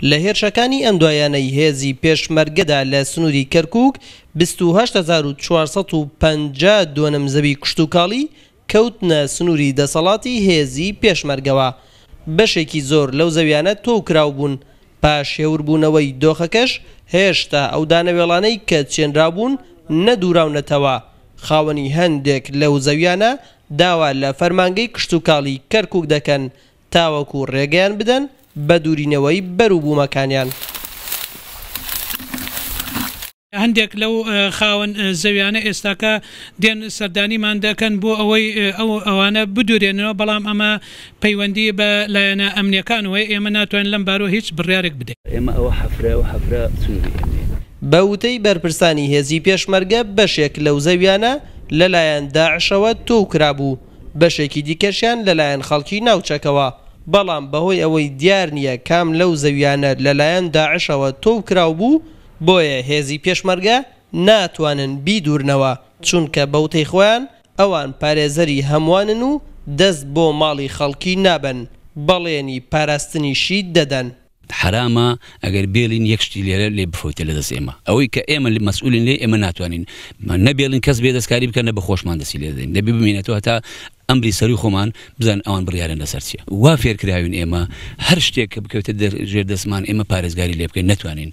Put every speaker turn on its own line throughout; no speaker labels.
لە هێرشەکانی ئەم دوایانەی هێزی پێشمەرگەدا لە سنووری کەرکووک بیست و هەشت هەزار و چوار سەد و پەنجا دۆنم زەوی کشتوکاڵی کەوتنە سنووری دەسەڵاتی هێزی پێشمەرگەوە، بەشێکی زۆر لەو زەویانە تۆو کراوبوون، پاش هێوربوونەوەی دۆخەکەش هێشتا ئەو دانەوێڵانەی کە چێنراوبوون نەدووراونەتەوە، خاوەنی هەندێک لەو زەویانە داوا لە فەرمانگەی کشتوکاڵی کەرکوک دەکەن تاوەکو رێگەیان بدەن بە دورینەوەی بەر و بومەکانیان.
هەندێک لەو خاوەن زەویانە ئێستاکە دێن سەردانیمان دەکەن بۆ ئەوەی ئەوانە بدورێننەوە، بەڵام ئەمە پەیوەندی بە لایەنە ئەمنیەکانەوە هەیە، ئێمە ناتوانین لەم بارەوە هیچ بڕیارێک بدەین. ئێمە ئەوە حەفرە و
حەفرە سنوری ئێمەیە. بە
وتەی بەرپرسانی هێزی پێشمەرگە بەشێک لەو زەویانە لەلایەن داعشەوە تۆو کرابوو، بەشێکی دیکەشیان لەلایەن خەڵکی ناوچەکەوە، بەڵام بەهۆی ئەوەی دیار نییە کام لەو زەویانە لەلایەن داعشەوە تۆو کراوبوو، بۆیە هێزی پێشمەرگە ناتوانن بیدورنەوە، چونکە بەوتەی خۆیان، ئەوان پارێزەری هەموانن و دەست بۆ ماڵی خەڵکی نابەن، بەڵێنی پاراستنیشی دەدەن. حەرامە
ئەگەر بێڵین یەک شتی لێرە لێ بفەوتێ لە دەست ئێمە. ئەوەی کە ئێمە مەسئولین لێی ئێمە ناتوانین نە بێڵین کەس بێ دەستکاری بکا نە بە خۆشمان دەستی لێ دەدەین. دەبێ بمینێتەوە هەتا ئەمری سەرووی خۆمان بزانین ئەوان بڕیاریان لە سەر چیە. وا فێر کراوین ئێمە هەر شتێک کە بکەوێتە ژێر دەستمان ئێمە پارێزگاری لێ بکەین نەتوانین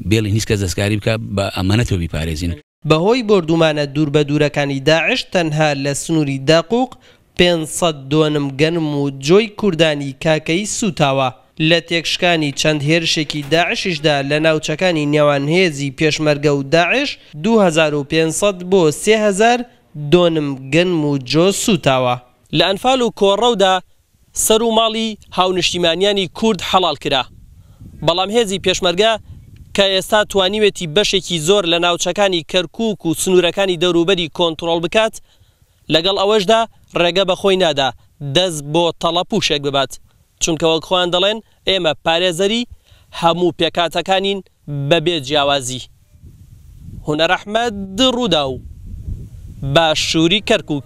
بێڵین هیچ کەس دەستکاری بکا بە ئەمانەتەوە بیپارێزین. بەهۆی بۆردومانە
دووربەدوورەکانی داعش تەنها لە سنوری داقوق پێنج سەد دۆنم گەنم و جۆی کوردانی کاکەیی سووتاوە، لە تێکشکانی چەند هێرشێکی داعشیشدا لە ناوچەکانی نێوان هێزی پێشمەرگە و داعش دوو هەزار و پێنج سەد بۆ سێ هەزار دۆنم گەنم و جۆ سووتاوە. لە ئەنفال و کۆڕەودا سەرو ماڵی هاونشتیمانیانی کورد حەڵال کرا، بەڵام هێزی پێشمەرگە کە ئێستا توانیوێتی بەشێکی زۆر لە ناوچەکانی کەرکوک و سنورەکانی دەوروبەری کۆنترۆڵ بکات، لەگەڵ ئەوەشدا ڕێگە بە خۆی نادا دەست بۆ تەڵە پوشێک ببات، چونکە وەک خۆیان دەڵێن ئێمە پارێزەری هەموو پێکهاتەکانین بەبێ جیاوازی. هونەر ئەحمەد، ڕووداو، باشوری کەرکوک.